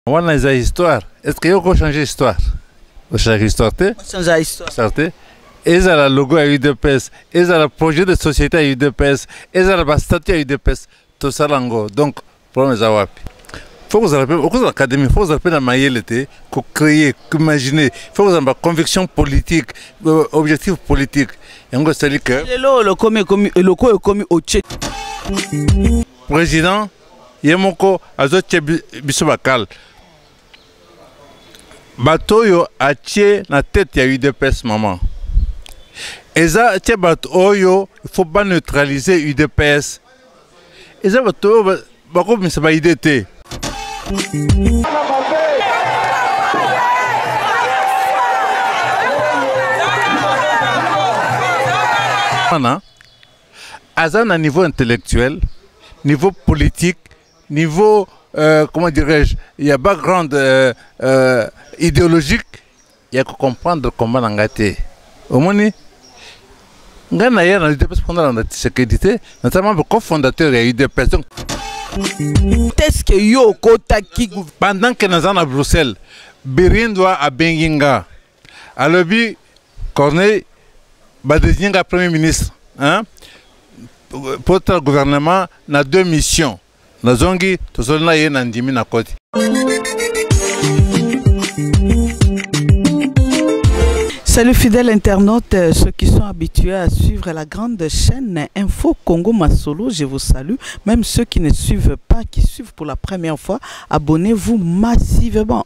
wana eza histoire estce yo okochange histoire ochange histoire te histoire te ezala logo ya udps ezala projet de société ya udps ezala bastatut ya udps tosala yango donc problème eza wapi fo kozala mpe okozala académie fo kozala mpe na mayele te kocréer koimagine fo kozala ba conviction politique euh, objectif politique yango esali que lelo lokomi ekomi lokoyo ekomi otie président ye moko azotye biso bakale bato oyo atye na tete ya udps mama eza tye bato oyo faut baneutralize udps eza bato oyo bakomisa baide te wana aza na niveau intellectuel niveau politique niveau euh, comment dirais-je il y a background euh, euh, idéologique il y a comprendre comment na ngai te omoni ngai na ye na udps mpo nalanda tshisekedi te naza membre cofondateur ya udps donc est-ce que yo okotaki pendant que naza na bruxelles birindwa abengi nga alobi corneille badesigne nga premier ministre hein? potala gouvernement na deux missions nazongi tozoli na ye na ndimi na koti Salut fidèles internautes, euh, ceux qui sont habitués à suivre la grande chaîne Info Congo Masolo, je vous salue. Même ceux qui ne suivent pas, qui suivent pour la première fois, abonnez-vous massivement.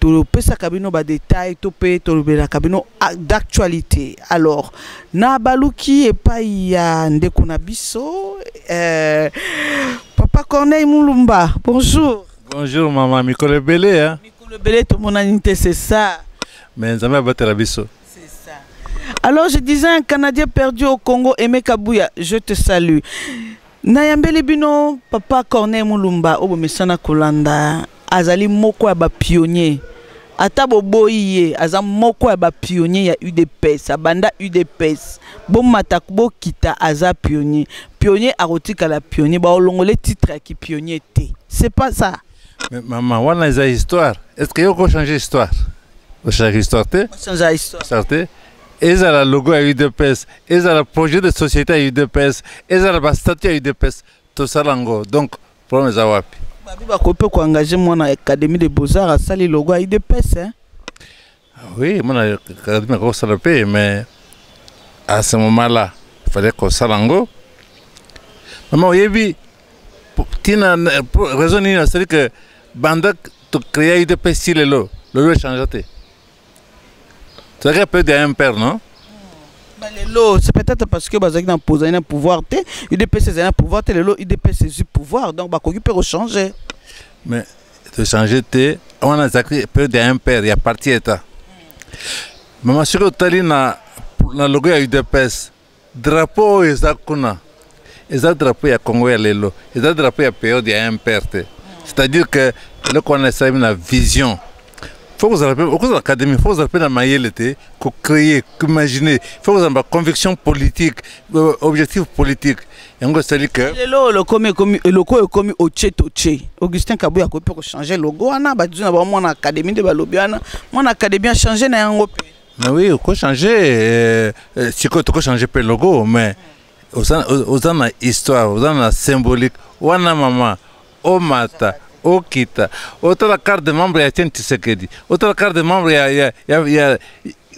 topesaka bino ba detail to mpe tolobelaka bino d'actualité alors na baluki epai ya ndeko na biso eh, papa corneille mulumba bonjour bonjour mama mikolo ebele hein? mikolo ebele tomonani te c'est ça mais nzambe abatela biso alors je disais un canadien perdu au congo aimé kabuya je te salue nayambeli bino papa corneille mulumba oyo bomesana kolanda azali moko ya bapionnier ata boboyi ye aza moko ya bapionnier ya udps abanda udps bomata bokita aza pionnier pionnier akotikala pionnier baolongole titre ya kipionnier te c'est pas ça Mais maman, wana eza histoire. Est-ce que yoko changer histoire? Ochanger histoire te? Ochanger histoire. Histoire te. ezala logo ya udps ezala projet de société ya udps ezala bastatut ya udps tosala yango donc problème eza wapi babi bakoki mpe koengage mwana académie de beaux-arts asali logo ya udps hein? Ah oui mwana académie akoki kosala mpe mais à ce moment là fallait kosala yango mama oyebi ntina raison nini asali ke banda tocréa udps ti lelo lelo echangea te Ça fait peu d'un père, non bah, lelo c'est peut-être parce que bazalaki na mpozali na pouvoir te udps ezali na pouvoir te lelo udps ezwi pouvoir donc bakoki mpe kochanger mais tochange te wana ezalaki peu d'un père ya parti état mama soki otali na, na logo ya udps Drapeau oyo eza kuna eza drapeau ya Congo ya lelo, eza drapeau ya periode ya MPR te. C'est-à-dire que eloko wana esalemi na vision faut kozala mpe okozala académie faut kozala mpe na mayele te kocréer koimagine faut kozala ba conviction politique euh, objectif politique yango esali ke lelo oyo lokomi ekomi eloko oyo ekomi otie totie augustin kabuya akoki mpe kochange logo wana baduzu na bango mwana académie nde balobi wana mwana académie achange na yango mpe Mais oui, oko changer euh, euh, sikoyo toko changer pe logo mais oza oza na histoire, oza na symbolique. Wana mama omata okita otala carte de membre ya Etienne Tshisekedi, otala carte de membre ya ya ya, ya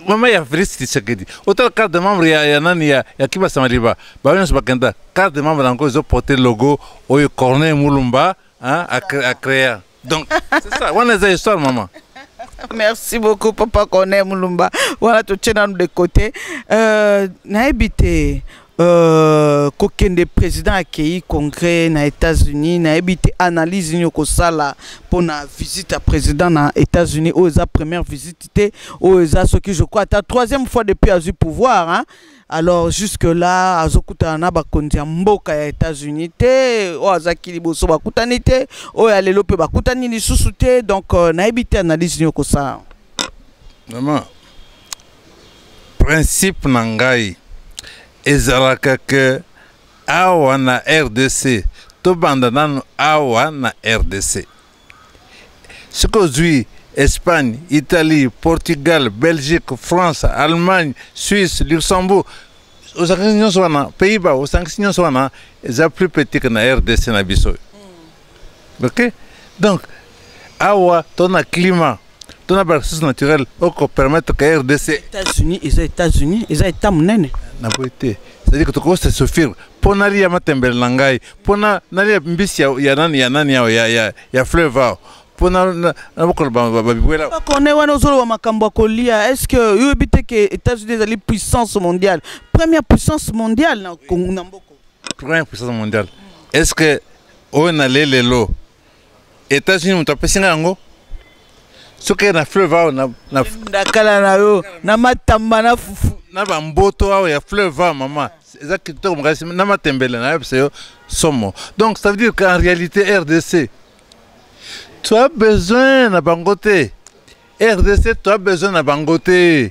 mama ya Félix Tshisekedi, otala carte de membre ya, ya nani ya, ya Kiba Samaliba, bango nyonso bakenda carte de membre yango ezo porter logo oyo Corneille Mulumba hein, a, cre- a créa donc c'est ça wana eza histoire maman merci beaucoup papa kone mulumba wana totie nanu de côté euh, nayebi te euh, kokende président akei congrès na états-unis nayebi te analyse nini okosala mpo na visite ya président na états-unis oyo eza première visite te oyo eza soki je crois ata troisième fois depuis azwi pouvoir hein? alors jusque là azokutana na bakonzi ya mboka ya états-unis te oyo azalaki liboso bakutani te oyo ya lelo mpe bakutani lisusu te donc euh, nayebi te analyse nini okosala mama principe na ngai ezalaka ke awa na rdc tobanda nanu awa na rdc soki ozwi espagne italie portugal belgique france allemagne suisse luxembourg osangisi nyonso wana pays ba osangisi nyonso wana eza plus petit que na rdc na biso hmm. ok donc awa to na climat to na baressource naturelle oko permettre que rdc états-unis eza états-unis eza état monene na boye te c'est-à-dire que tokoki se souffrir mpo nalia matembele na ngai mpo nalia mbisi ya nani ya nani ao ya fleuve ao mpo nabokola babibwela bakone wana ozoloba makambo ya kolia est ce que oyebi te ke états-unis ezali puissance mondiale première puissance mondiale na mboka première puissance mondiale est ce que oyo nalie lelo Etats-Unis moto apesi ngai yango soki na fleuve awa na, na, na kala na yo na matamba na fufu na bamboto awa ya fleuve awa mama eza kitoko makasi na matembele nayebisa yo somo donc ça veut dire qu'en réalité rdc tu as besoin na bango te rdc tu as besoin na bango te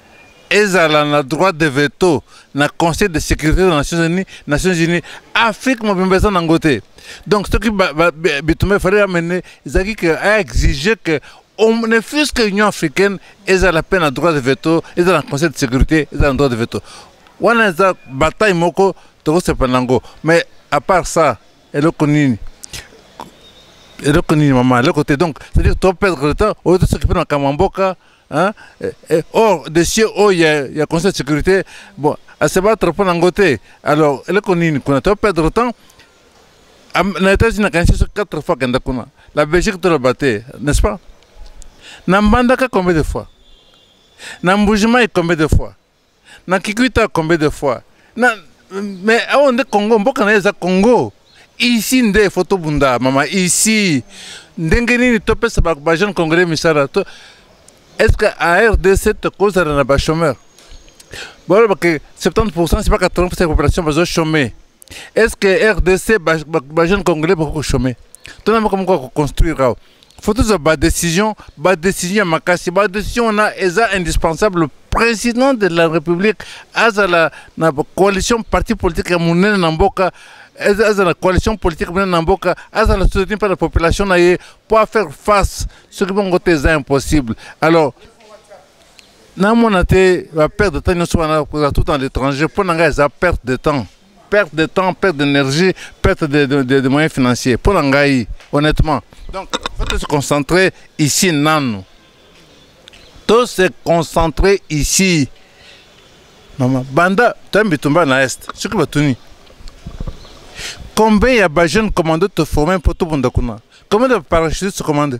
ezala na droit de veto na conseil de sécurité na nations unis nations unis afrique mobimba eza nango te donc soki bitumba efale amene ezalaki ke aexige ke ne fût-ce que union africaine ezala mpe na droit de veto ezala na conseil de sécurité ezala na droit de veto wana eza bataille moko tokosepa na yango mais à part ça eloko nini eloko nini mama eloko te donc c'est-à-dire toperdre le temps oyo tosoki mpe na makambo ya mboka Hein? Eh, eh, or dossier oyo ya, ya conseil de sécurité bon asebattre mpo na yango te alors eleko nini kuna to perdre temps na états-unis nakanisi so quatre fois akenda kuna la belgique toloba te n'est ce pas na mbandaka combien de fois na mbujimai combien de fois na kikuita combien de fois na mais awa nde congo mboka na ye eza congo ici nde fo tobunda mama ici ndenge nini topesa bajeune congolais misala to est ce que a rdc tokozala na bachomeur bolobake 70 pourcent siba 80 pourcent ya population bazo chome est ce que rdc bajeune congolais bakoki kochome tona moko moko akoconstruire awa faut tozwa badécision badécision ya makasi badécision wana eza indispensable président de la république azala na coalition parti politique ya monene na mboka azala coalition politique monene na mboka azala soutenu mpe na population na ye mpo afaire face soki bongo te eza impossible alors Na mona te ba perte de temps nyoso wana kozala tout en l'étranger mpo na ngai eza perte de temps perte de temps perte d'énergie perte de, de, de, de moyens financiers mpo na ngai honnêtement donc faut se concentrer ici nanu to se concentrer ici mama banda toya bitumba na est soki batuni combien ya bajeune commando toforme mpo tobunda kuna combien de parachute se commande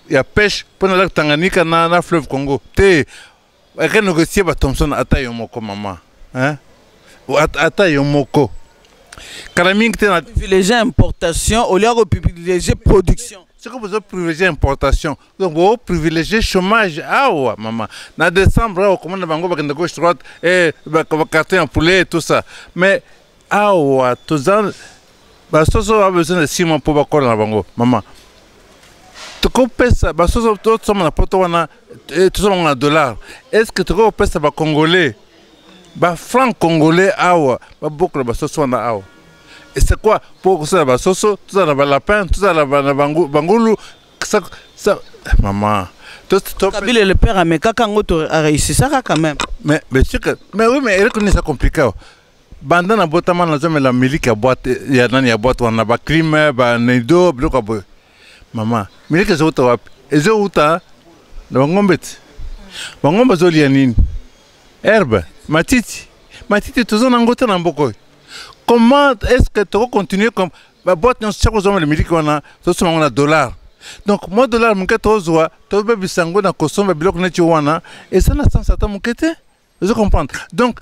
ya pêche mpo na lac Tanganyika na, na fleuve Congo te eke négocier ba Thomson ata yo moko mama hein? ata yo moko kala mingi te na privilégie importation au lieu ya koprivilégie production soki bozo privilégie importation donc bo privilégie chômage awa mama na décembre awa okomona bango bakenda gauche droite e eh, bakarton ya poulet tout ça mais awa toza basoso ba besoin de six mois mpo bakola na bango mama tokopesa basoso tosomba na poto wana eh, tosomba yango na dollar est ce que tokoki kopesa bacongolais bafranc congolais awa babokola basoso wana awa c'est quoi mpo kosala basoso tozala na balapin tozala na bangulu mama kabila le père amekaka yango areusisaka quand même mais mais oui mais eleko nini eza compliqué awa banda na botama nazomela miliki ya boite ya nani ya boite wana baclime baneido biloko ya boye mama miliki ezouta wapi ezouta na bangombe ti bangombe azolia nini herbe matiti matiti toza na yango te na mboka oyo comment est ce que toko continue comme baboite nyonso tia kozomela miliki wana tosoma yango na dollar donc mwa dollar moke tozwa tobebisa yango na kosomba biloko neti wana eza na sansa ata moke te ozo comprendre donc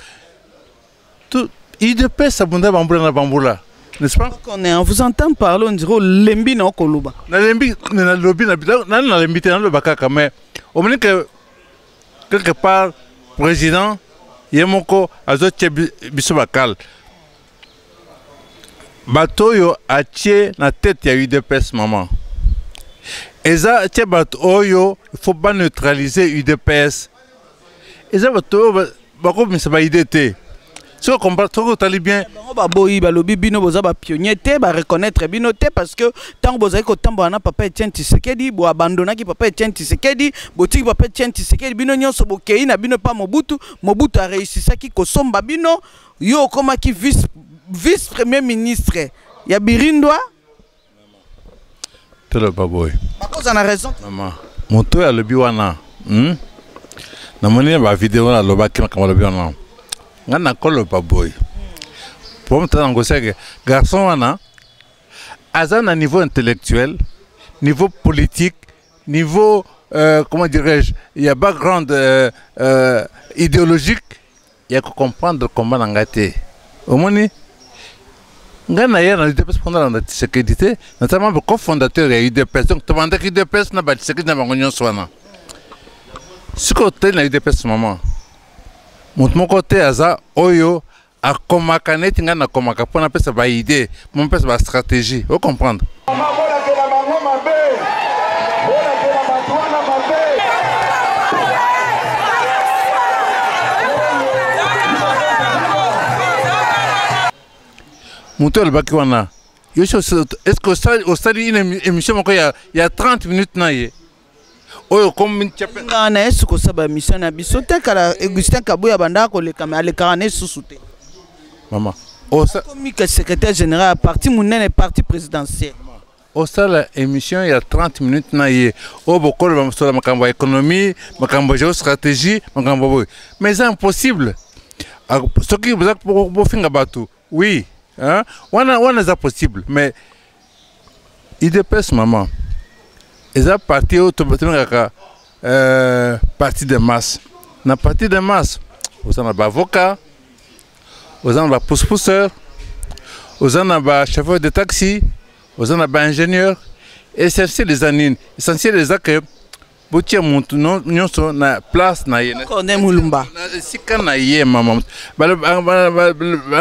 tout idps abunda bambula na bambula n'est-ce pas on est on vous entend parler on dirait olembi na okoloba nalembi nalobi nani nalembi te naloba kaka mais omoni que quelque part président ye moko azotya biso bakale bato oyo atye na tete ya udps mama eza tye bato oyo il faut baneutralize udps eza bato oyo bakobimisa baide te soki comprendre soki otali bien bango baboyi balobi bino boza bapionnier te bareconnaitre bino te parce que ntango bozali kotambola na papa etienne tisekedi boabandonaki papa etienne tisekedi botiki papa etienne tisekedi bino nyonso bokei na bino mpa mobutu mobutu areusisaki kosomba bino yo okomaki vice vice premier ministre ya birindwa toloba boye bakoza na raison mama moto oyo alobi wana hmm? namoni na bavideo wana alobaki makambo alobi wana ngai nakoloba boye po moto yango seke garçon wana aza na niveau intellectuel niveau politique niveau euh, comment dirais-je ya background euh, euh, idéologique ya ko comprendre combat na ngai te omoni ngai na ye na udps mpo nalanda tshisekedi te naza membre cofondateur ya udps donc tobandaki udps na batshisekedi na bango nyonso wana sikoyo totali na udps mama moto moko te aza oyo akomaka neti ngai nakomaka mpo napesa baide mon pèse ba stratégie o comprendre moto alobaki wana yo est ce que osali une émission moko ya 30 minutes na ye oyo comme nga na yesu kosaba mission na biso te kala Augustin Kabuya banda koleka mais alekaka na susu te mama osa comme que secrétaire général à parti munene parti présidentiel osala émission ya 30 minutes na ye oyo bokoloba mosolo makambo ya économie makambo ya géostratégie makambo boye mais eza impossible soki boza bofinga bato Oui, hein? wana wana eza possible mais idps maman eza parti oyo tobengaka euh, parti de masse na parti de masse oza na baavocat oza na bapousepousseur oza na bachauffeur de taxi oza na baingénieur essentiel eza nini essentiel eza ke botia motu nyonso na place na ye corne mulumba na esika na ye mama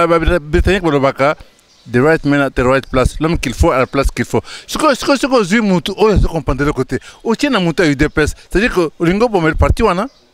babritannique balobaka the right man at the right place l'homme qu'il faut à la place qu'il faut sikoyo sikoyo soki ozwi motu oyo azo comprendre eloko te otie na motu ya udps c'est à dire que olingi obomela parti wana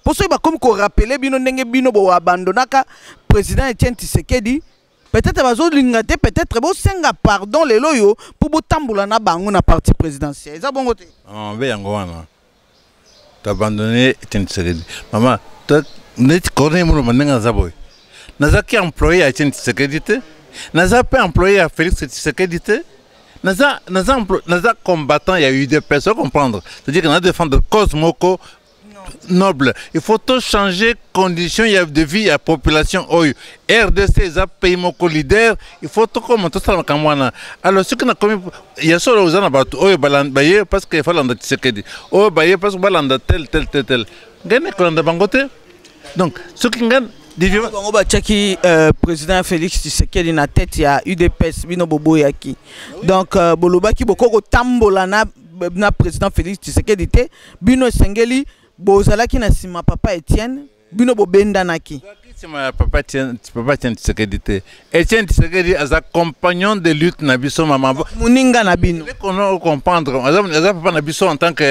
mpo soki bakomi korapele bino ndenge bino boabandonaka président etienne tisekedi peut-être bazolinga te peut-être bosenga pardon lelo oyo mpo botambola na bango na parti présidentiel eza bongo te ah, mbe yango wana toabandonne etienne tisekedi mama neti corneille moloma ndenge naza boye nazalaki employé ya etienne tisekedi te naza mpe employé ya félix tisekedi te naza naza naza combattant ya udps ocomprendre c'est-à-dire que na défendre cause moko noble il faut to changer condition ya de vie ya population oyo rdc eza pays moko leader il faut tokoma tosala makambo wana alors soki nakomi ya solo oza na bato oyo baye parce que falanda tisekedi oyo baye parce que balanda tel tel tel tel ngai nakolanda bango te donc soki ngai bango batiaki euh, président félix tshisekedi na tete ya udps bino boboyaki donc euh, bolobaki bokoki kotambola na na président Félix Tshisekedi te bino esengeli bozalaki na sima papa Etienne bino bobendanaki sima ya papa Etienne papa Etienne Tshisekedi te Etienne Tshisekedi aza compagnon de lutte na biso mama muninga na bino kono comprendre aza aza papa na biso en tant que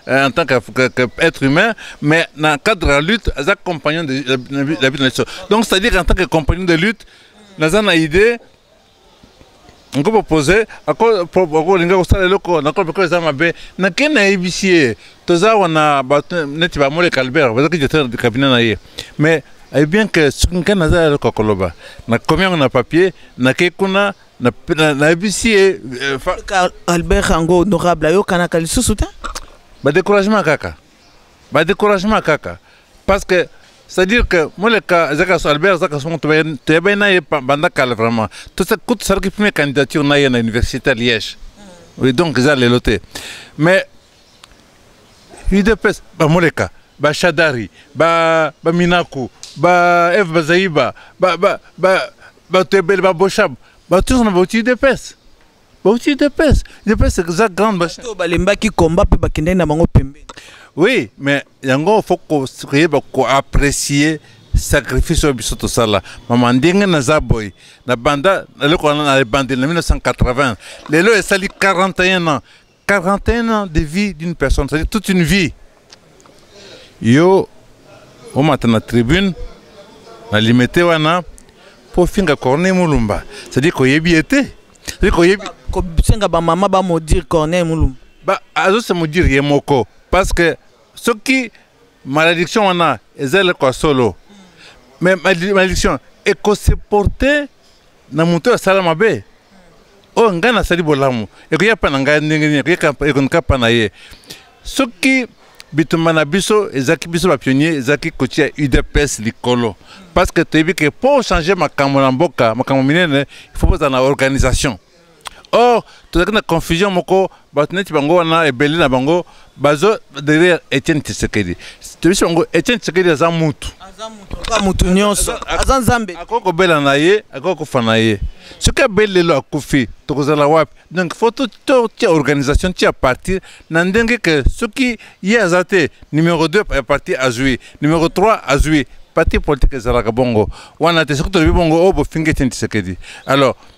euh, en tant que, que, que être humain mais na cadre la lutte aza compagnon de la lutte na biso donc c'est à dire en tant que compagnon de lutte naza na idée nkopropose akolinga kosala eloko na kope ko eza mabe nake nayebisi ye toza wana bato neti bamole calbert bazaki directeur de cabinet na ye mais ayebi bien ke soki ngai naza eloko ya koloba nakomi yango na papier nakei kuna nayebisi ye euh, albert yango honorable ayokanaka lisusu te badécouragement kaka ba découragement kaka parce que c'est-à-dire que moleka azaka so albert azaka songo toyebani na ye banda kala vraiment kutu salaki premier candidature na ye na université ya liège mm. oui donc eza lelo te mais udps bamoleka bashadari baminaku ba eve bazaiba bato ebele baboshab bato nyonso na bauti udps bauti udps udps eza grande basi oyo balembaki combat mpe bakendaki na bango pembeni oui mais yango faut koyeba koapprécier sacrifice oyo biso tosala mama ndenge naza boye na banda naleko wana na ebandeli na 1980 lelo esali 41 ans 41 ans de vie d'une personne, c'est-à-dire toute une vie. Yo, au matin la tribune, na limete wana, pour finga corner mulumba. C'est-à-dire qu'on y est bien été. C'est-à-dire qu'on y est bien. Ko senga ba maman ba maudire corner mulumba. Bah, azo se maudire yé moko. Parce que ce qui, malédiction wana, ezele kwa solo. Mais malédiction, et qu'on se portait na moto asala mabe oyo oh, ngai nasali bolamu ekoya mpa na ngai ndenge nini ekonika mpa na ye soki bitumba na biso ezalaki biso bapionnier ezalaki kotia udps likolo parce que toyebi ke mpo ochange makambo na mboka makambo minene il faut bozala na organisation or tozalaki na confusion moko bato neti bango wana ebele na bango bazo derrière etienne tshisekedi toyebisi bango etienne tshisekedi aza mutu mutu nyonso aza nzambe akoki kobela na ye akoki kofa na ye soki abeli lelo akufi tokozala wapi donc fo totia organisation tia partir na ndenge ke soki ye aza te numero 2 ya parti azwi numero 3 azwi parti politique ezalaka bongo wana te soki tolobi bongo oyo oh, bofingi etienne tshisekedi alors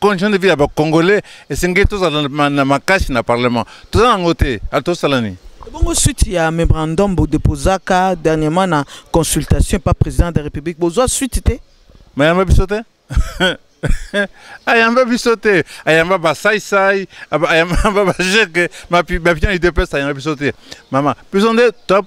condition de vie ya bacongolais esengeli tozala na makasi na parlement toza nango te atosala nini bongo suite ya memorandum bodeposaka dernièrement na consultation pa président de la république bozwa suite te mayamba biso te ayamba biso te ayamba basaisai ayamba bajeke bapion idps ayamba biso te mama biso nde top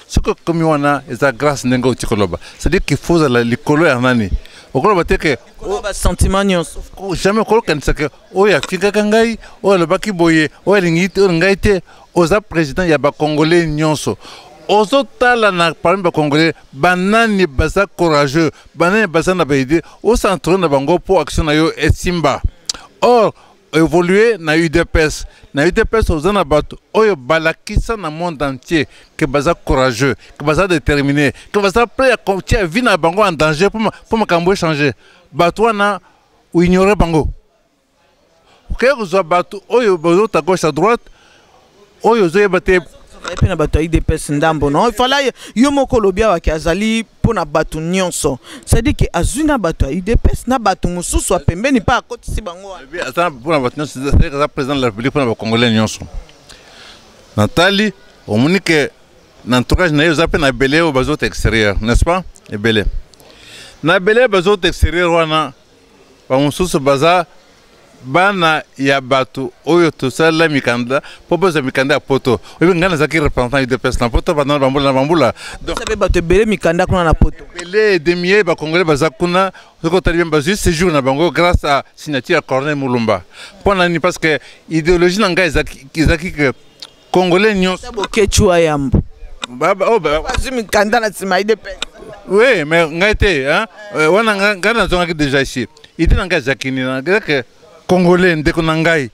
soki okomi wana eza grâce ndenge oti koloba c'est-à-dire qu'il faut ozala likolo ya nani okoloba te ke basentiment nyonso jamais okolokanisa ke oyo afingaka ngai oyo alobaki boye oyo alingi te oyo ngai te oza président ya bacongolais nyonso ozotala na parmi bacongolais banani baza courageux banani baza na baide ocentre na bango mpo action na yo esimba or évoluer na udps na udps oza na bato oyo balakisa na monde entier ke baza courageux ke baza déterminé ke baza prêt ya kotia vie na bango en danger mpo makambo echange bato wana oignore bango okei kozwa bato oyo bozota gauche à droite oyo ozoyeba te azali mpe na bato ya idps ndambo no ifala yo moko olobi awa ke azali mpo na bato nyonso cestadire ke azwi na bato ya udps na bato mosusu ya pembeni mpe akotisi bango aza mpo na bato nyonso aza président de la république mpo na bacongolais nyonso natali omoni ke na entourage na ye oza mpe na ebele oyo bazota extérieur n'est ce pas ebele na ebele bazota extérieur wana bamosusu baza bana ya bato oyo tosalela mikanda mpo bozwa mikanda ya poto oyebi ngai nazalaki représentant udps na poto banda na bambula na bambula mpe bato ebele mikanda kuna na poto ebele demie bakongole baza kuna soki otali bien bazwi séjour na bango grâce à signature ya corneille mulumba mpo na nini parce que idéologie na ngai ezalaki congolais nyonso boketshu wa yambo oh, bazwi mikanda na nsima idps oui mais ngai te eh, wana ngai nazongaki déjà ici idi na ngai azalaki nini nazalaki congolais ndeko na ngai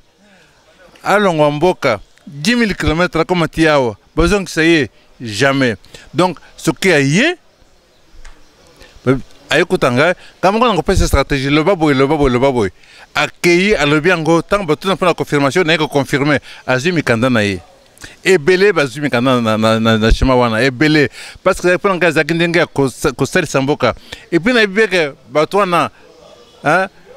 alongwa mboka 10 000 km akoma ti awa bazongisa ye jamais donc soki aye ayekuta ngai kamoko na kopesa stratégie loba boye loba boye loba boye akei alobi yango ntango batuna mpo na confirmation naye koconfirme azwi mikanda na ye ebele bazwi mikanda na shema wana ebele parce que mpo na ngai azalaki ndenge ya kosalisa mboka epuis nayebi beke bato wana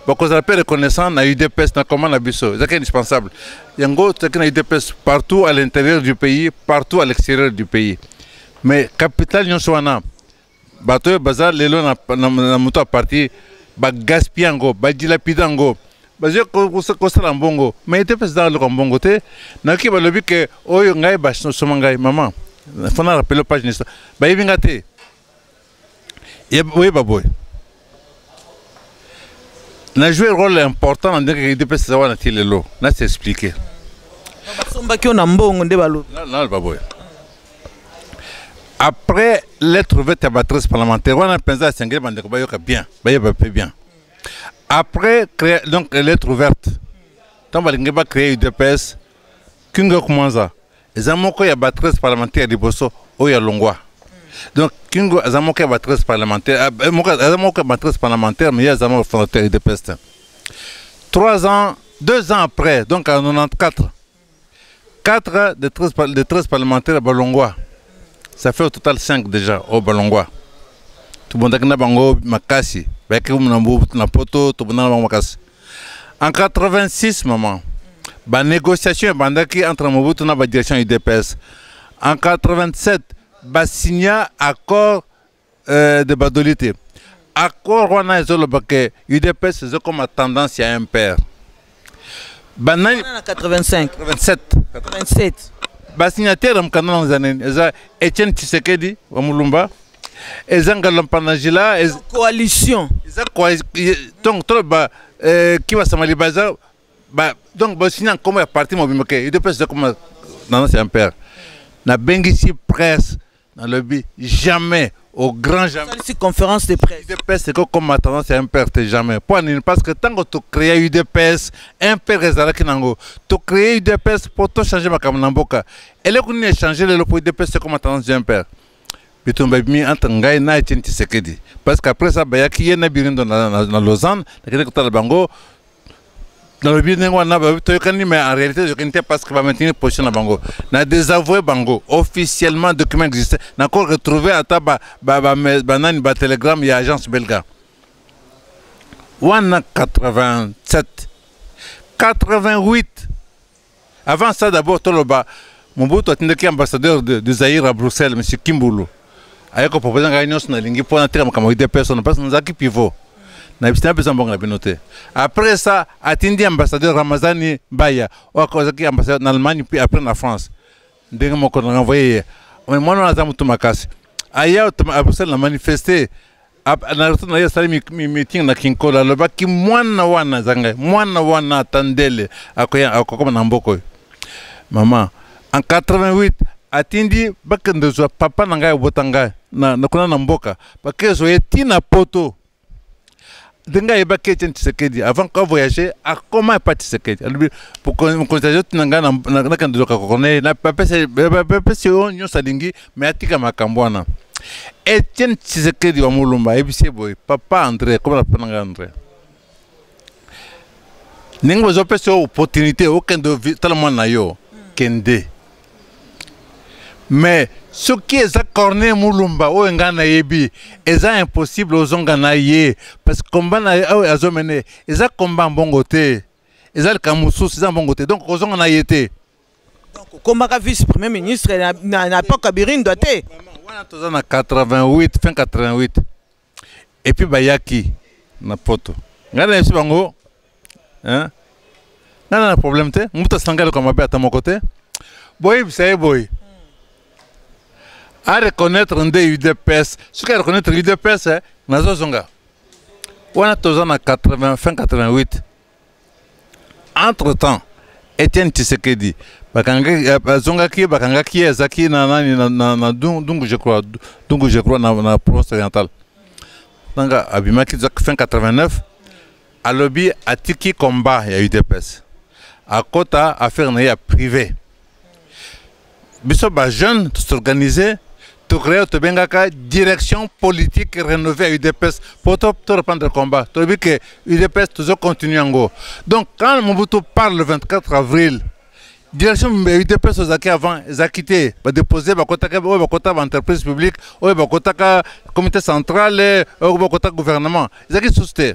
bakozala mpe reconnaissant na udps na koma na biso ezalaki indispensable yango tozalaki na udps partout à l'intérieur du pays partout à l'extérieur du pays mais capital nyonso wana bato oyo baza lelo na, na, na moto ya parti bagaspia yango badilapida yango bazwi kosala mbongo mai ete mpe ezalaka loka mbongo te nayoki balobi ke oyo ngai basoma ngai mama fana rapelo page nisa bayebi ngai te oyeba boye na jouer rôle important na ndenge edps eza wana ti lelo na s'expliquer basombaki yo na mbongo nde balobi naloba boye après lettre vete ya batrice parlementaire wana mpenza asengeli bandeko bayoka bien bayeba mpe bien après créer, donc lettre ouverte ntango balingi bacréer udps kinga kumanza eza moko ya ba 13 parlementaire liboso oyo alongwa donc kingo aza moko ya ba 13 parlementaire ah, eh, moko aza moko ya ba 13 parlementaire mais ye aza moko fondateur ya udps te 3 ans 2 ans après donc en 94 4 des 13, des 13 parlementaires balongwa ça fait au total 5 déjà au balongwa tobondaki na bango makasi bayaki na poto tobondaki na bango makasi En 86, maman, la négociation est bandaki entre Mobutu et la direction UDPS. En 87, ba signa accord euh, de badolité. Accord on a que UDPS est comme tendance à un père. Banani 85 87 87 ba signataire mkanda na zanene eza Etienne Tshisekedi wa Mulumba eza ngalompa na jila coalition eza donc toloba eh, kibasamali baza donc basini na nkombo ya parti mobimba ke udps eza koma nana c'est un père nabengisi presse nalobi jamais au grand jamais salisi conférence de presse udps ekokoma tendance ya mpr te jamais mpo nini parce que ntango tocréa udps mpr ezalaki nango tocréa udps mpo tochange makambo na mboka eleko nini echange lelo mpo udps ekoma tendance ya mpr bitumba ebimi entre ngai na etienne tisekedi parce que après ça bayaki ye na birindo na, na, na lausanne nakende kotala bango nalobi ndenge wana babi toyokani mais en réalité toyokani te parce que bamaintenir position na bango na désavoue bango officiellement document existe nako retrouve ata banani ba, ba, batelegramme ya agence belga wana 87 88 Avant ça, d'abord, Toloba, Mobutu atindaki ambassadeur de, de Zaïre à Bruxelles, M. Kimbulu. aye kopropose ngai nyonso nalingi mpo nateka makambo ide personne parce nazalaki pivot nayebisi napesa mbongo na bino te après ça atindi ambassadeur ramazani baya oyo akozalaki ambassadeur na allemagne puis après na france ndenge moko na envoye ye mais mwana wana aza motu makasi aya abruxelles na manifeste na retraite na ye asali meeting na kinkolo alobaki mwana wana eza ngai mwana wana ata ndele akokoma na mboka oyo mama en 88 atindi bakende zwa papa na ngai obota ngai na kuna na mboka bakende zwa ye ti na poto ndenge ayebaki etienne tshisekedi avant ko voyage akoma epa tshisekedi alobi mokonzi azoti na ngai nakende zoka kokona ye bapesi yo nyonso alingi mais atika makambo wana etienne tshisekedi wa molumba ayebisi ye boye papa andré komela papa na ngai andré ndenge bozopesa yo opportunité okende tala mwana na yo kende mais soki eza corne mulumba oyo ngai nayebi eza impossible ozonga na ye parce que combat na oyo azomene eza combat mbongo te eza likambo mosusu eza mbongo te donc kozonga na ye te okomaka vice premier ministre na, na, na epoque ya birindwa te wana toza na 88 fin 88 epuis bayaki na poto ngai nayebisi bango ngai na na problème te moto asanga eloko mabe ata moko te boyebisa ye boye a reconnaître nde udps soki a reconnaître udps eh, nazozonga wana toza na 80 fin 88 entre temps etienne tisekedi euh, bazongaki ye bakangaki ye azalaki na nani na dungu je crois dungu je crois na province orientale nanga abimaki fin 89 alobi atiki combat ya udps akota affaire na ye ya privé biso ba jeune to s'organiser to créer to bengaka direction politique rénovée à UDPS pour to to reprendre combat to bi que UDPS toujours continue yango donc quand Mobutu parle le 24 avril direction ya udps ozalaki avant ezalaki te badepose bakotaka oyo bakotaka baentreprise publique oyo bakotaka comité central oyo bakotaka gouvernement ezalaki susu te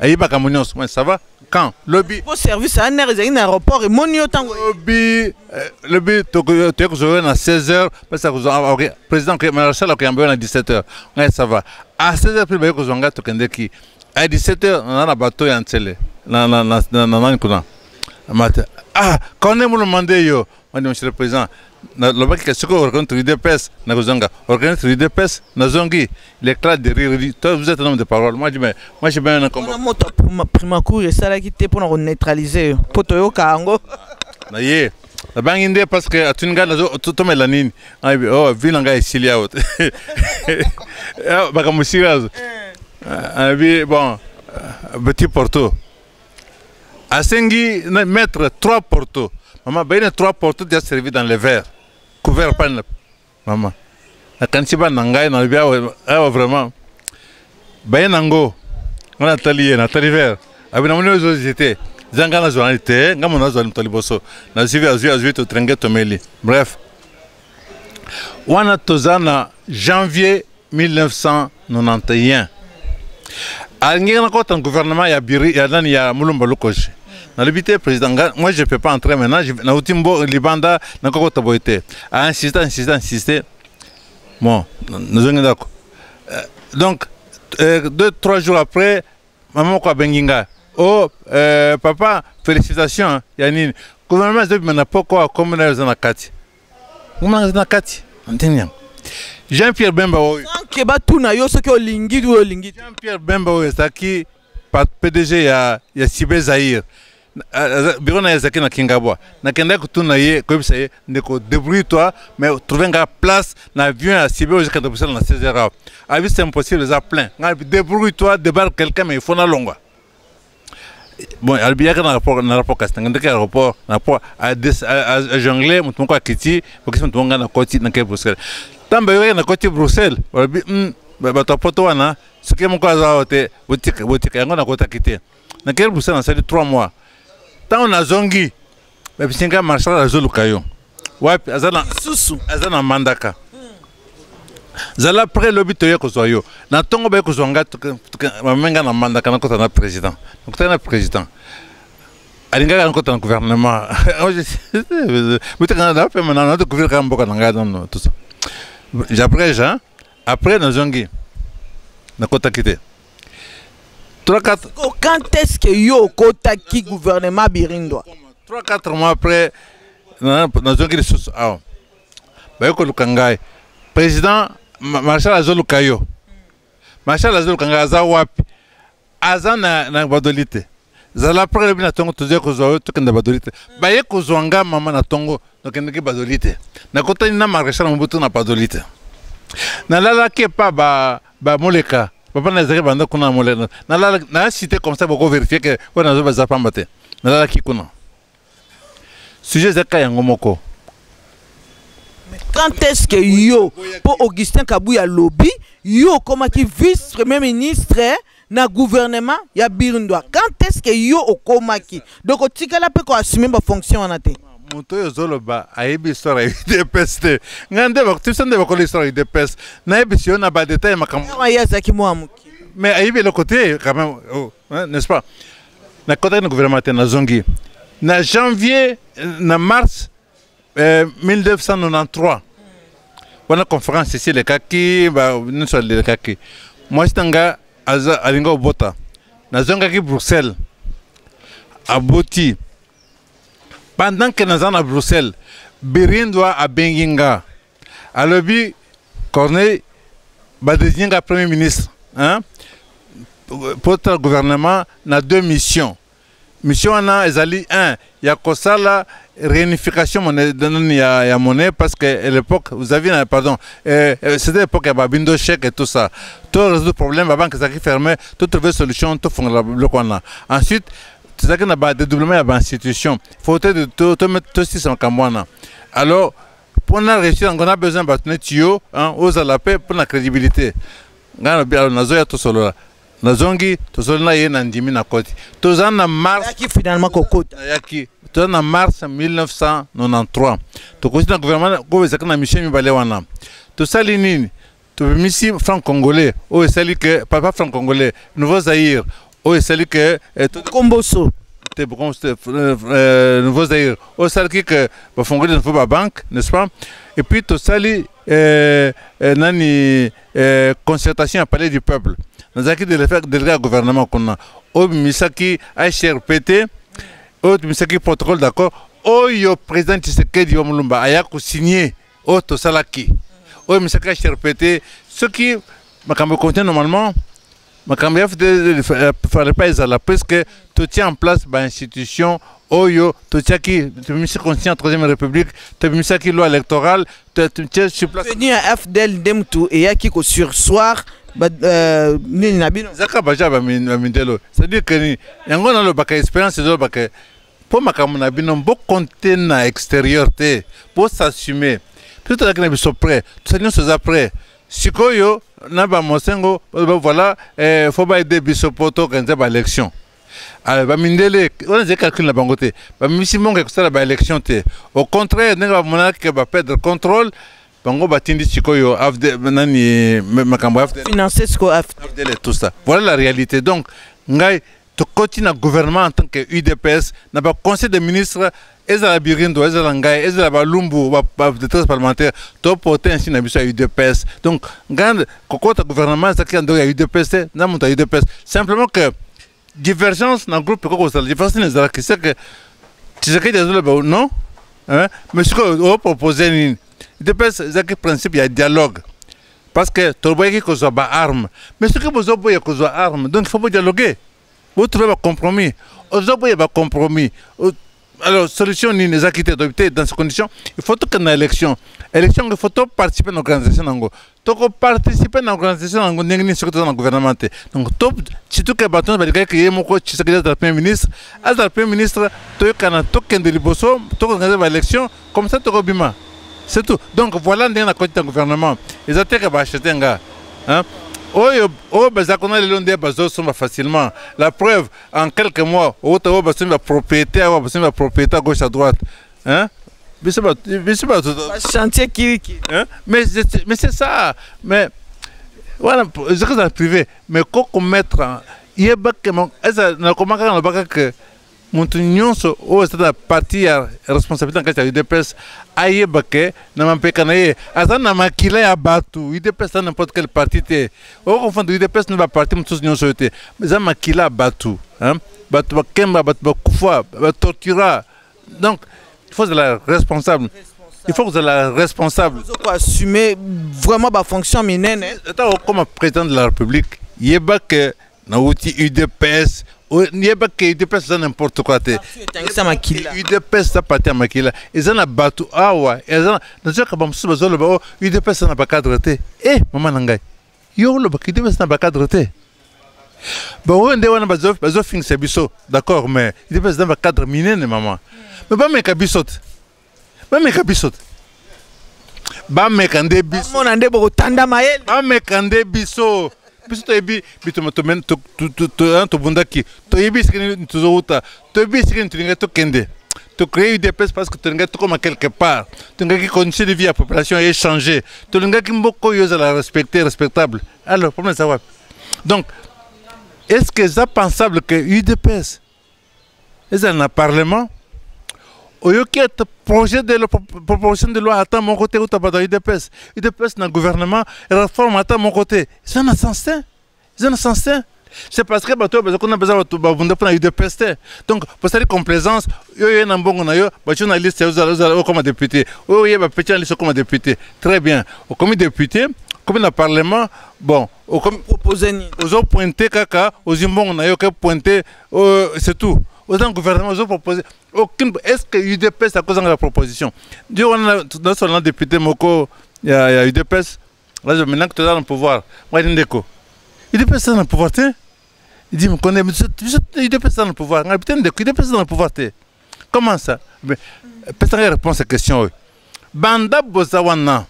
ayebaka mo nyonso mais ça va quand lobi po service ya nere ezali na aéroport emoni yo ntango lobi eh, lobi toye kozwa yo na 16 heures pesa kozwa ah, ok président marchal akoyamba yo na 17 heures ngai ça va à 16 heures mpe baye kozwa ngai tokendeki à 17 heures na na bato ya nsele na nani kuna mate ah kone molomande yo Mani monsieur le président, na lobaki que ce qu'on reconnaît l'UDPS, na kozanga, reconnaître l'UDPS, na zongi, l'éclat de rire, dit, toi vous êtes un homme de parole. Moi je me, moi je mets un combat. Wana moto prima- primacour esalaki te mpo na koneutralize yo mpo toyoka yango Na ye, na bangi nde parce que atuni ngai nazo to- tomela nini. Ah bi, oh vie na ngai esili awa. Ah, Makambo esili awa. Ah, bi bon, euh, petit porto. asengi na mettre trois porto mama baye na trois porto dia servi dans le verre couvert pani na mama nakanisi bana na ngai nalobi awa awa vraiment baye nango ngai natali ye natali verre abi namoni ozo jete eza ngai nazwa nani te ngai mona nazwa moto liboso nazwi azwi azwi totrenge tomeli bref wana toza na janvier 1991 alingaki nakota gouvernement ya biri ya nani ya mulumba lukoshi nalobi te président nga moi je peux pas entrer maintenant je- nauti mbo libanda nakokota boye te ainsiste ainsiste ainsiste bon nazongi ndako Euh, donc euh, deux trois jours après mama moko abengi nga o euh, papa félicitation ya nini gouvernement ezobima na poko akomi nayo eza na kati Mama nanga na kati. Antenne yango. Jean-Pierre Bemba oyo. Sans que batuna yo soki olingi ou olingi. Jean-Pierre Bemba oyo ezaki PDG ya ya Cibé Zaire. biro na ye ezalaki na kingabwa nakendaki kotuna ye koyebisa ye ndeko débrouille toi mais trouve nga place na avion ya sibe oyo ekenda kosala na 16 heures avis c'est impossible eza plein nga débrouille toi débarque quelqu'un mais il faut nalongwa bon alobi yaka na rapport na rapport kasi nanga ndeke aéroport na rapport ajongle moto moko akiti okisi moto moko ngai nakoti nake bruxelles ntango bayokaki nakoti bruxelles balobi hmm, bato ya poto wana soki moko aza awa te botika yango nakotaki te nakei bruxelles nasali 3 mois ntango nazongi Mais bisenga marshal azoluka yo wapi aza na susu aza na mandaka zala pre lobi toye kozwa yo na ntongo baye kozwa ngai bamenga na mandaka nakota na président nakotaki na président alingaka nakota na gouvernement moteka na pema na na découvrir kaka mboka na ngai nono tout ça j'abrège hein après nazongi nakotaki te oh, quand est-ce que yo okotaki gouvernement birindwa 3 4 mois après nazongi lisusu awa baye koluka ngai président marshal azoluka yo marshal azoluka ngai aza wapi aza na, na badoli te zala pre lobi na ntongo tozali kozwa yo tokenda badoli te baye kozwa nga mama na ntongo nokendeki badoli te nakotani na marechal mobutu na badoli te nalalaki epa bamoleka ba papa na ezalaki banda kuna moleka nalalaki na site comme ça bokoverifie ke oyo nazoba eza pamba te nalalaki kuna sujet eza kaka yango moko quand est-ce que yo mpo augustin kabuya alobi yo okomaki vice premier ministre eh, na gouvernement ya birndwa quand est-ce que yo okomaki donc otikala mpe koassume bafonction wana te moto oyo ozoloba ayebi histoire ya udps te ngai nde biso nde bakola histoire ya udps nayebisi yo na badetail makambo ye azalaki mwa moke mais ayebi eloko te quand même oh, n'est-ce pas na kotaki na gouvernement te nazongi na janvier na mars eh, 1993 wana conférence esi elekaki nyonso elekaki mwasi na nga alingi obota nazongaki bruxelles aboti pendant ke naza na bruxelles birindwa abengi nga alobi corneille badesigne nga premier ministre hein? potala gouvernement na deux missions mission wana ezali un ya kosala réunification monnaie nani ya, ya monnaie parce que à l'époque vous aviez na pardon euh, euh, c'était l'époque ya babindo chèque et tout ça to résoudre problème babanque ezalaki fermé to trouver solution tofongola biloko wana ensuite tozalaki na badedoublement ya bainstitution faut tosisa makambo wana alors mpo na réussir yango na besoin bato neti yo ozala mpe mpo na crédibilité ngai nabi alors nazoya tosolola nazongi tosololi na ye na ndimi na koti toza na mars finalement kokota nayaki toza na mars 1993 tokosi na gouvernement oyo ezalaki na misie mibale wana tosali nini tobimisi franc congolais oyo esali ke papa franc congolais nouveau zaïre oyo esali ke eh, komboso te bokomboso te euh, euh, nouveau zaïre oyo esalaki ke bafongoli nouveau babanque n'est ce pas et puis tosali eh, eh, nani eh, concertation ya palais du peuple nazalaki délégué ya gouvernement kuna oyo bimisaki hrpt oyo bimisaki protocole d'accord oyo président tshisekedi wa mulumba aya kosigne oyo tosalaki oyo misaka cherpete soki makambo ekonte normalement makambo ya fallait pas ezala puisque totie en place bainstitution oyo totiaki tobimisi constitution ya troisième république tobimisaki loi électorale totie sur place tenu ya fdl nde motu eyaki kosursoir euh, nini na bino ezaka baja bamindelo c'est-à-dire que yango nalobaka expérience ezolobaka mpo makambo na bino bokonte na exterieur te bosassume biso tozalaki na biso près tosali nyonso eza près sikoyo na bamosengo voilà eh, fo baede biso mpo toorganize baélection alors bamindele wana ezali calcul na bango te bamimisi mongo ya kosala baélection te au contraire ndenge bamonaki ke baperdre contrôle bango batindi sikoyo nani makambo ya finance sikoyo afdele tout ça voilà la réalité donc ngai tokoti na gouvernement en tant que udps na baconseil de ministre ezala birindo ezala ngai ezala balumbu badetresse parlementaire toporte insi na biso ya udps donc ngai kokota gouvernement ezalaki ya ndoko ya udps te na moto ya udps simplement que divergence na groupe ekoki kozala divergence nini ezalaki c'est que tshisekedi azoloba non mais sikoyo opropose nini udps ezalaki principe ya dialogue parce que toboyaki kozwa ba arme mais soki bozoboya kozwa arme donc faut bodialogue botrouve bacompromis ozoboya bacompromis alors solution nini ezalaki te toyebi te dans ce condition il faut tokende na élection élection yango il faut toparticipe na organisation na yango tokoparticipe na organisation na yango ndenge nini soki toza na gouvernement te donc to surtout ke bato nyonso balingaki ye moko tshisekedi azala premier ministre azala premier ministre toyokana tokende liboso tokoorganize baélection comme ça toko bima c'est tout donc voilà ndenge na koti na gouvernement eza te ke baachete nga hein? oyo oyo baza kuna lelo nde bazosomba facilement la preuve en quelques mois outa oyo basombi bapropriété awa basombi bapropriété à gauche à droite hein? biso biso bato chantier kiriki hein? mais mais c'est ça mais voilà ezaka za privé mais ko komettre yebakema eza nakomaka nalobaka que moto nyonso oyo azali na parti ya responsabilité na kati ya udps ayeba ke na mampeka na ye aza na makila ya bato udps aza n'importe quelle parti te okonfondre udps na baparti mosusu nyonso oyo te eza makila ya bato bato bakemba bato bakufa batortura donc il faut ozala responsable il faut kozala responsable assumer vraiment bafonction minene ata okoma président de la république yeba ke nauti udps yebake udps eza n'importe quoi te udps eza parti ya makila eza na bato awa nazoyaka bamosusu bazoloba o oh, udps eza na bacadre te e eh, mama na ngai yo olobaka udps eza na bacadre te baoyo nde wana bazofingisa biso d'accord mais udps eza na bacadre minene mama me bameka biso te bameka biso te bameka nde bisomona nde bokotanda mayele bameka nde biso biso toyebi bitoma tobundaki toyebi esika nini tozowuta toyebi esika nini tolingai tokende tocree udps parce que tolingaki tokoma quelque part tolingaki condition de vie ya population echange tolingaki mboka oyo ezala respecte respectable alors problème eza wapi donc est ce que eza pensable que udps ezala na parlement oyoki ete projet de proposition de loi ata moko te uta bato ya udps udps na gouvernement réforme ata moko te eza na sens te eza na sens te c'est parce que bato oyo baza kuna baza bato babunda mpo na udps te donc bosali complaisance yo oye na mbongo na yo batyo na liste ozala okoma député oyo oye bapeti na liste okoma député très bien okomi député okomi na parlement bon okomi propose nini ozo pointe kaka ozi mbongo na yo ke pointe euh, c'est tout oza na gouvernement ozo propose aucune est ce que udps akozanga la proposition ndi wana nasola na député moko ya, ya udps azo maintenant que toza na pouvoir mwadi ndeko udps aza na pouvoir te idi mokone udps aza na pouvoir ngai te ndeko udps aza na pouvoir te comment ça pesanga réponse à question oyo banda boza wana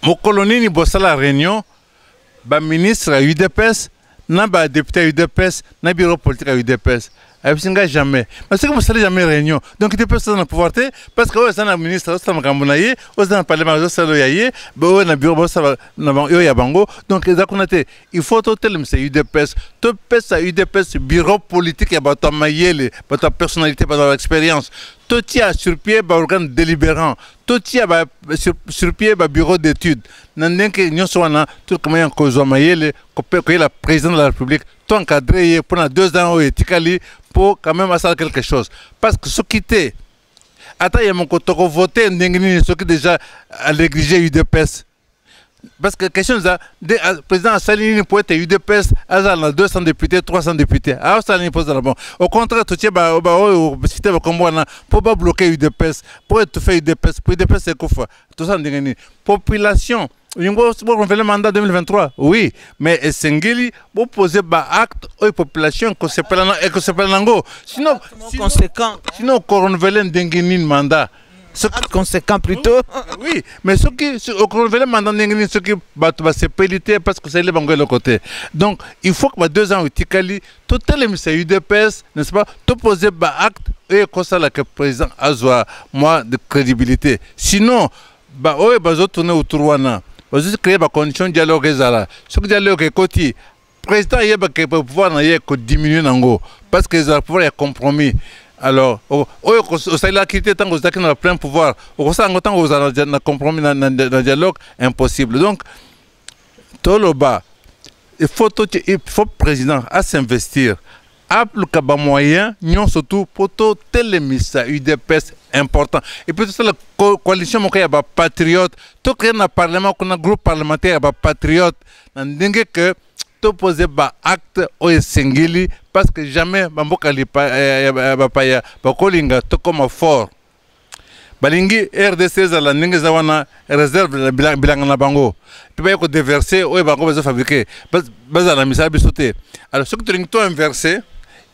mokolo nini bosala réunion baministre ya udps na badepute ya udps na biro politique ya udps ayebisi ngai jamais mais soki bosali jamais réunion donc udps oza na pouvoir te parce que oyo aza na ministre azosala makambo na ye oyo aza na parlement azosala oyo ya ye oyo na biro bazosala oyo ya bango donc eza kuna te il faut totelemisa udps topesa udps biro politique ya bato ya mayele bato ya personnalité bato ya expérience totia sur pied baorgane délibérant totia ba, sur, sur pied babureau d'étude na ndenge nyonso wana tokomaya kozwa mayele koyela président de la république to encadre ye mpo na deux ans oyo etikali mpo quand même asala quelque chose parce que soki te ata ye moko tokovote ndenge nini soki déjà aleglige udps parce que question eza nde ah, président asali nini mpo ete udps azala na 200 député 300 député asala nini mpo ezala bon au contraire totie baoyo site bakombo wana mpo babloke udps mpo etufe udps mpo udps ekufa tosala ndenge nini population olingo borenouveler mandat 2023 oui mais esengeli boposer baacte oyo population ekosepela na yango sinon okorenouvele ndenge nini mandat soki conséquent plutôt ah, ah, oui mais soki okonovele manda ndenge nini soki bato basepeli te parce que osaleli bango eloko te donc il faut que ba deux ans etikali totelemisa udps n'est ce pas toposer baacte oyo ekosala que président azwa mwa de crédibilité sinon baoyo bazotourne autour wana bazocreye bacondition dialogue ezala soki dialogue ekoti président ayeba ke pouvoir na ye kodiminue nango parce que ezala pouvoir ya compromis alors oyo osalelaki te ntango ozalaki na plein pouvoir okosala yango ntango ozala na compromis na dialogue impossible donc toloba il faut, il faut président à s'investir apluka ba moyen nyonso tu mpo totelemisa udps important et puis tosala coalition moko ya bapatriote tokende na parlement kuna groupe parlementaire ya bapatriote na ndenge ke topose baacte oyo esengeli parce que jamais bamboka eh, ya bapaya bakolinga tokoma fort balingi rdc ezala ndenge eza wana réserve bilanga na bango mpe baye kodeverse oyo bango bazofabrike bazala na misala biso te alors soki tolingi to inverse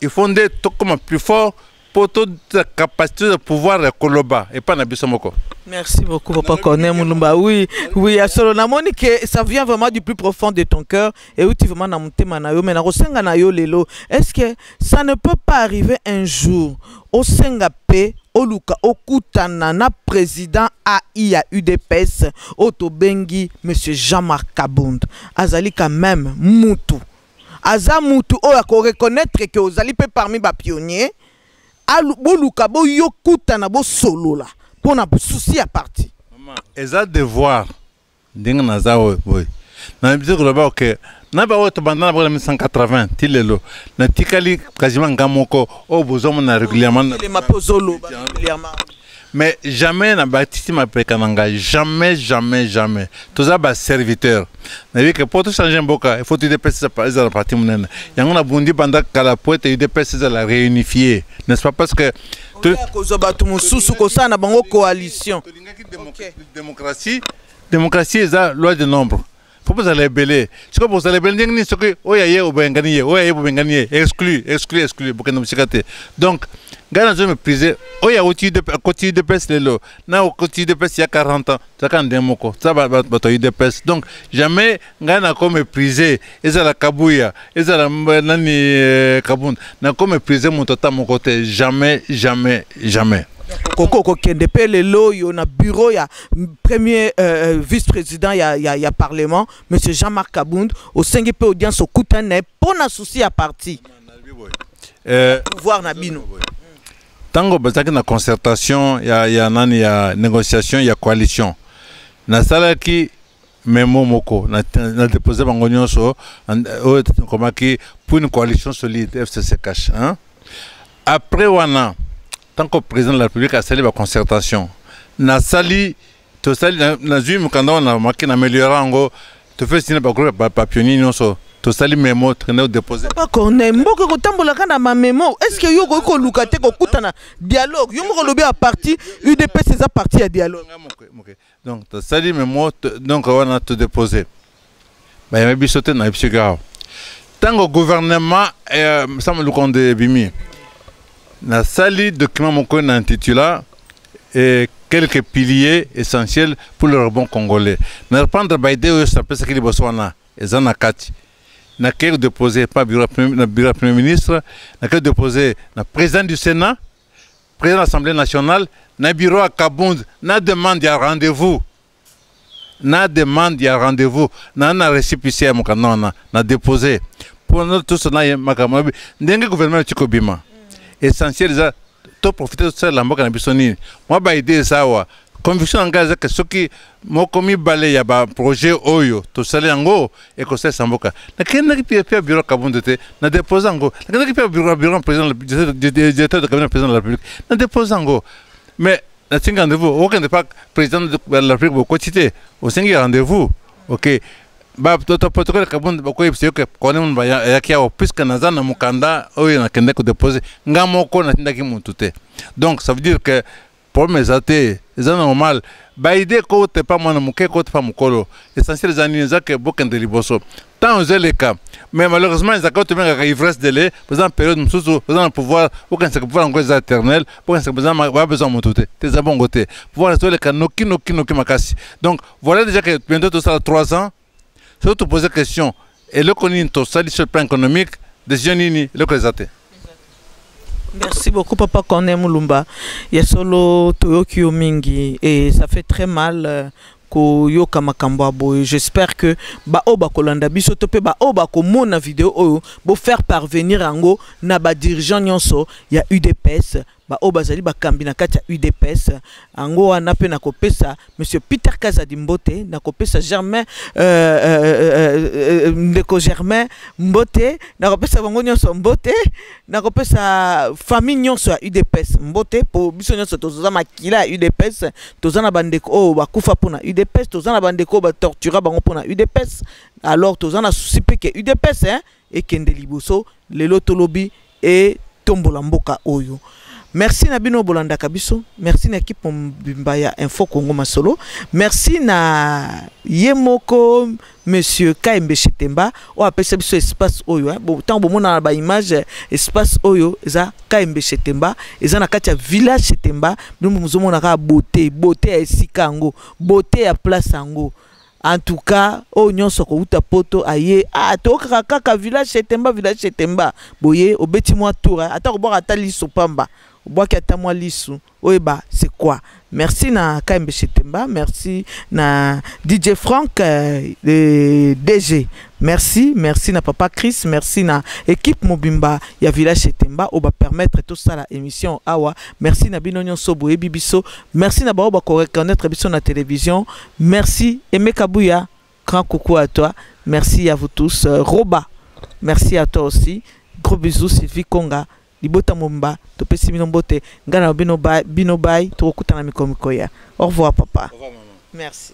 il faut nde tokoma plus fort mpo tozala capacité de pouvoir ya koloba epai na biso moko Merci beaucoup, Papa Cornet Moulumba. Oui, oui, à Solo Namoni, que ça vient vraiment du plus profond de ton cœur. euti vraiment na motema na yo mais nakosenga na yo lelo est ce que ça ne peut pas arriver un jour osenga mpe oluka okutana na président ai ya udps oyo tobengi monsieur jean marc kabund azali quand même mutu aza mutu oyo akoreconnaitre ke ozali mpe parmi bapionnier boluka boyokutana bosolola mpo na susi ya parti eza devoir ndenge naza oyo boye nabisi koloba oke na baoyo tobanda na bango na 1980 ti lelo natikali kajima nga moko oyo bozomona régulièrement mais jamais na batisi mapeka na ngai jamais jamais jamais toza baserviteur nayebi ke mpo tochange mboka ifaut udps ezala parti monene yango nabundi banda kala po ete udps ezala réunifie n'est ce pas parce que kozwa bato mosusu kosala na bango coalition alingaki démocratie démocratie eza loi de nombre fo bozala ebele sikoyo bozala ebele ndenge nini soki oyo aye obengani ye oyo aye bobengani ye exclu exclu exclu bokende mosika te donc ngai nazo méprise oyo awuti akoti udps lelo na okoti udps ya 40 ans tozalaka ndenge moko toza bato ya udps donc jamais ngai nako meprise ezala kabuya ezala nani eh, kabund nako meprise moto ata moko te jamais jamais jamais koko kokende mpe lelo oyo na bureau ya premier euh, euh, vice président ya, ya, ya parlement monsieur jean marc kabund osengi mpe audience okutani na ye mpo na souci ya parti euh, pouvoir na bino ntango bazalaki na concertation ya, ya nani ya négociation ya coalition nasalaki memo moko na, na depose bango nyonso oyo ekomaki pour une coalition solide fcc cash hein? après wana ntango président de la république asali baconcertation nasali tosali nazwi mokanda wana maki na ameliora yango tofesi na bagroupe bapionnier nyonso tosali memo tokende kodepose papa corneille mboka ekotambolaka na bamemo est ce que yo okoki koluka te kokutana dialogue yo moko olobi ya parti udps eza parti ya dialogue donc tosali memo donc wana todepose bayambi biso te na biso kaka ntango gouvernement eh, sama lukondo ebimi nasali document moko na intitula eh, quelques piliers essentiels pour le rebond congolais na reprendre baide oyo napesaki liboso wana eza na kati nakei kodepose pa na bureau ya premier ministre nakei kodepose na président du sénat président ya assemblée nationale na bureau ya kabund na demande ya rendez-vous na demande ya rendez-vous na na récépissé ya mokanda wana na dépose mpo na toso na ye makambo mabe ndenge gouvernement euti kobima essentiel eza toprofite tosalela mboka na biso nini mwa baide eza awa conviction na ngai eza ke soki moko mibale ya baprojet oyo tosali yango ekosalisa mboka nakendaki mpe mpe biro kabundu te na depose yango nakendaki mpe biro biro président directeur de cabinet président de la république na depose yango mais natingi rendez-vous okende mpa président de la république bokoti te osengi rendez-vous ok protokole kabundu bakoyebisa yo ke kone mundu ayaki awa puiske naza na mokanda oyo nakendaki kodepose nga moko natindaki mutu te donc ça veut dire que Problème eza te, eza normal. Ba idée ko te pas mwana muke ko te pas mukolo. Essentiel eza nini eza ke bokende liboso. Tant eza leka. Mais malheureusement eza ko te benga ivresse de lait, besoin période mususu, besoin pouvoir, aucun se pouvoir ngo eza éternel, aucun se besoin ba besoin mutu te. Te za bongo te. Pouvoir eza leka noki noki noki makasi. Donc voilà déjà que bientôt tout ça 3 ans soki topose question eloko nini tosali sur le plan économique décision nini eloko eza te Merci beaucoup Papa Corneille Mulumba. Ya solo toyoki yo mingi et ça fait très mal euh, koyoka makambo ya boye j'espère que baoyo bakolanda biso to mpe baoyo bakomona video oyo bofaire parvenir yango na badirigeant nyonso ya udps baoyo bazali bakambi na kati ya udps yango wana mpe nakopesa monsieur peter kazadi mbote nakopesa germain euh, euh, euh, euh, euh ndeko germain mbote nakopesa bango nyonso mbote nakopesa famille nyonso ya udps mbote mpo biso nyonso toza makila ya udps toza na bandeko oyo bakufa mpo na udps toza na bandeko oyo batortura bango mpo na udps alors toza na susi mpe ke udps hein? ekende liboso lelo to lobi etombola mboka oyo merci na bino bolandaka biso merci na ekipe mobimba ya info congo masolo merci na ye moko monsieur kaembe shetemba oyo apesa biso espace oyo ntango eh. bomonana na baimage eh, espace oyo eza kaembe shetemba eza na kati ya village shetemba bino mozomona kaka bote bote ya esika yango bote ya place yango en tout cas oyo nyonso akowuta poto aye ah, tokaka kaka village setemba village setemba boye obeti mwa tour eh. ata kobwaka ata liso pamba obwaki ata mwa lisu oyeba c'est quoi merci na kaembe setemba merci na dj frank eh, le dg merci merci na papa chris merci na équipe mobimba ya village setemba oyo bapermettre tosala émission awa merci na bino nyonso boyebi biso merci na baoyo bakoreconnaitre biso na télévision Merci Aimé Kabuya, grand coucou à toi. Merci à vous tous. Euh, Roba, merci à toi aussi. Gros bisous Sylvie Konga, libota momba, topesi bino mbote, ngana na bino bay, bino bay, tokokutana mikolo mikoya. Au revoir papa. Au revoir maman. Merci.